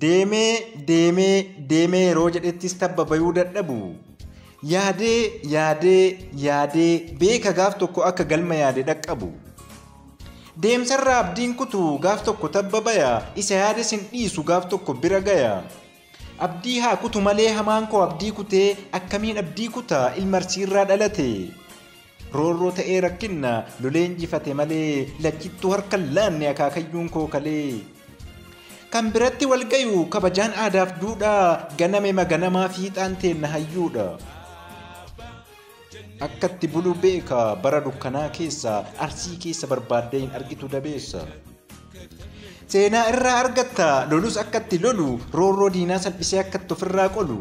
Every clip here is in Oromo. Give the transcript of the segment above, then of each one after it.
Deemee deemee deemee yeroo jedhettis tabba bayuu dadhabu. Yaadee yaadee yaadee beeka gaaf tokko akka galma yaade dhaqqabu. Deemsarraa abdiin kutu gaaf tokko tabba baya isa yaades hin dhiisu gaaf tokko bira gaya. Abdii haa kutu malee hamaan koo abdii kutee akkamiin abdii kuta ilma arsiirraa dhalate roorroo ta'ee rakkinna lolee injifate malee lachittuu harka hin laanne akaakayyuun koo kalee kan biratti wal gayu kabajaan aadaaf duudhaa ganame maganamaa fiixaan teenna hayyuudha. Akkatti bulu beeka bara dukkanaa keessa arsii keessa barbaaddee hin argitu dabeessa. Seenaa irraa argatta lolus akkatti lolu roorroo diinaa salphisee akkatti ofirraa qolu.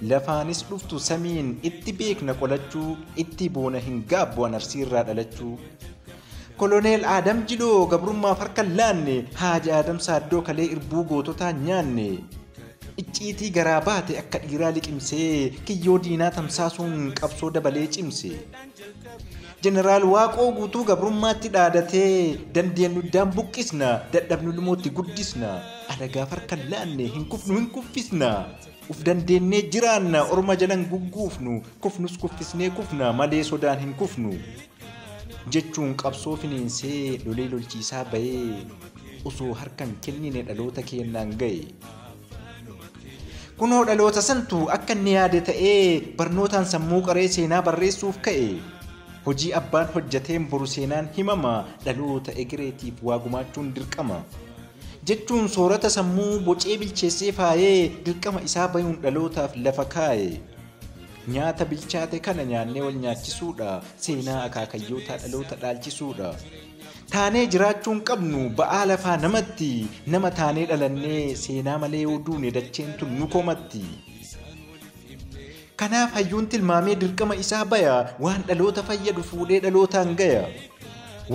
Lafaanis dhuftu samiin itti beekna qolachuu itti boona hin gaabbu an arsii irraa dhalachuu. Koloneel Aadam Jiloo gabrummaaf harka hin laanne, Haaji Aadam Saaddoo kalee irbuu goototaa hin nyaanne. Icciitii garaa baate akka dhiiraa liqimsee, kiyyoo diinaa tamsaasuun qabsoo dabalee cimse. Jeneraal Waaqoo Guutuu gabrummaatti dhaadatee, dandeenyu iddaan buqqisna, dadhabnu ilmootti guddisna. Alagaaf harka hin laanne, hin kufnu hin kuffisna. Uf dandeennee jiraanna, orma jala hin gugguufnu, kufnus kuffisnee kufna, malee sodaan hin kufnu. jechuun qabsoo finiinsee lolee lolchiisaa bahee osoo harkan kennine dhaloota keennaan gahe. Kunoo dhaloota santu akka inni yaade ta'ee barnootaan sammuu qaree seenaa barreessuuf ka'e. Hojii abbaan hojjateen boru seenaan himama dhaloota egereetiif waa gumaachuun dirqama. Jechuun soorata sammuu bocee bilcheessee faayee dirqama isaa bayuun dhalootaaf lafa kaaye. Nyaata bilchaate kana nyaannee wal nyaachisuudha. Seenaa akaakayyootaa dhaloota dhaalchisuudha. Taanee jiraachuu hin qabnu ba'aa lafaa namatti. Nama taanee dhalannee seenaa malee yoo duune dacheen tun nu komatti. Kanaaf hayyuun tilmaamee dirqama isaa baya waan dhaloota fayyadu fuudhee dhalootaan gaya.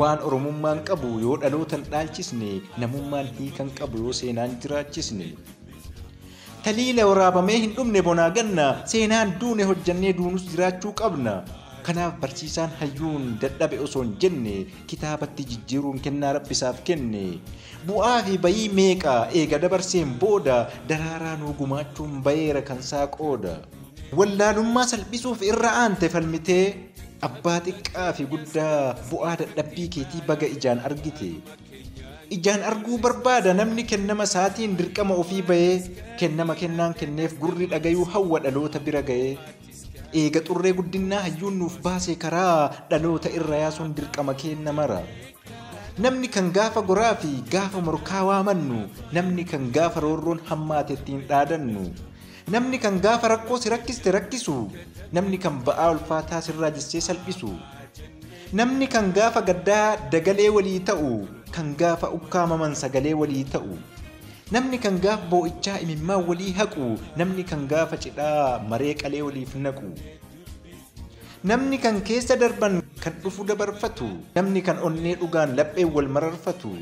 Waan oromummaan qabu yoo dhalootan dhaalchisne namummaan hiikan qabu yoo seenaan jiraachisne. Taliila waraabamee hin dhumne bonaa ganna seenaan duune hojjannee duunus jiraachuu qabna. Kanaaf barsiisaan hayyuun dadhabe osoo hin jenne kitaabatti jijjiiruun kennaa rabbi isaaf kenne. Bu'aa fi bayii meeqa eega dabarseen booda daraaraa nuu gumaachuun bayeera kan isaa qooda. Wallaalummaa salphisuuf irra aante falmitee. Abbaa xiqqaa fi guddaa bu'aa dadhabbii keetii baga ijaan argite. Ijaan arguu barbaada namni kennama isaatiin dirqama ofii bahee kennama kennaan kenneef gurri dhagayuu hawwa dhaloota bira ga'ee. Eega xurree guddinnaa hayyuun nuuf baase karaa dhaloota irra yaasuun dirqama keenna mara. Namni kan gaafa goraa fi gaafa morkaa waamannu, namni kan gaafa roorroon hammaate ittiin dhaadannu, namni kan gaafa rakkoo si rakkiste rakkisu, namni kan ba'aa ulfaataa sirraa jissee salphisu. Namni kan gaafa gaddaa dagalee walii ta'u, kan gaafa ukkaamaman sagalee walii ta'u. Namni kan gaaf boo'ichaa imimmaan walii haqu, namni kan gaafa cidhaa maree qalee waliif naqu. Namni kan keessa darban kan dhufu dabarfatu, namni kan onnee dhugaan lapheen wal mararfatu.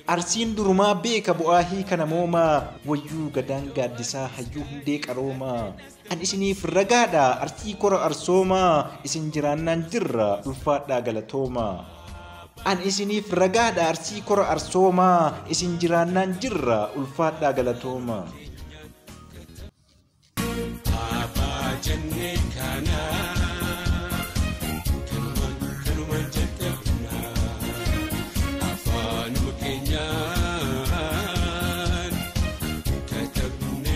Arsiin durumaa beeka bu'aa hiika namoomaa, wayyuu gadaan gaaddisaa hayyuu hundee qaroomaa. Kan isiniif ragaadha arsii kora arsoomaa isin jiraannaan jirra ulfaadhaa galatoomaa. An isiniif ragaadha arsii kora arsoomaa isin jiraannaan jirra ulfaadhaa galatoomaa. Abbaa jennee kana kanuma kanuma jajjabna afaanuma keenyaan katabne.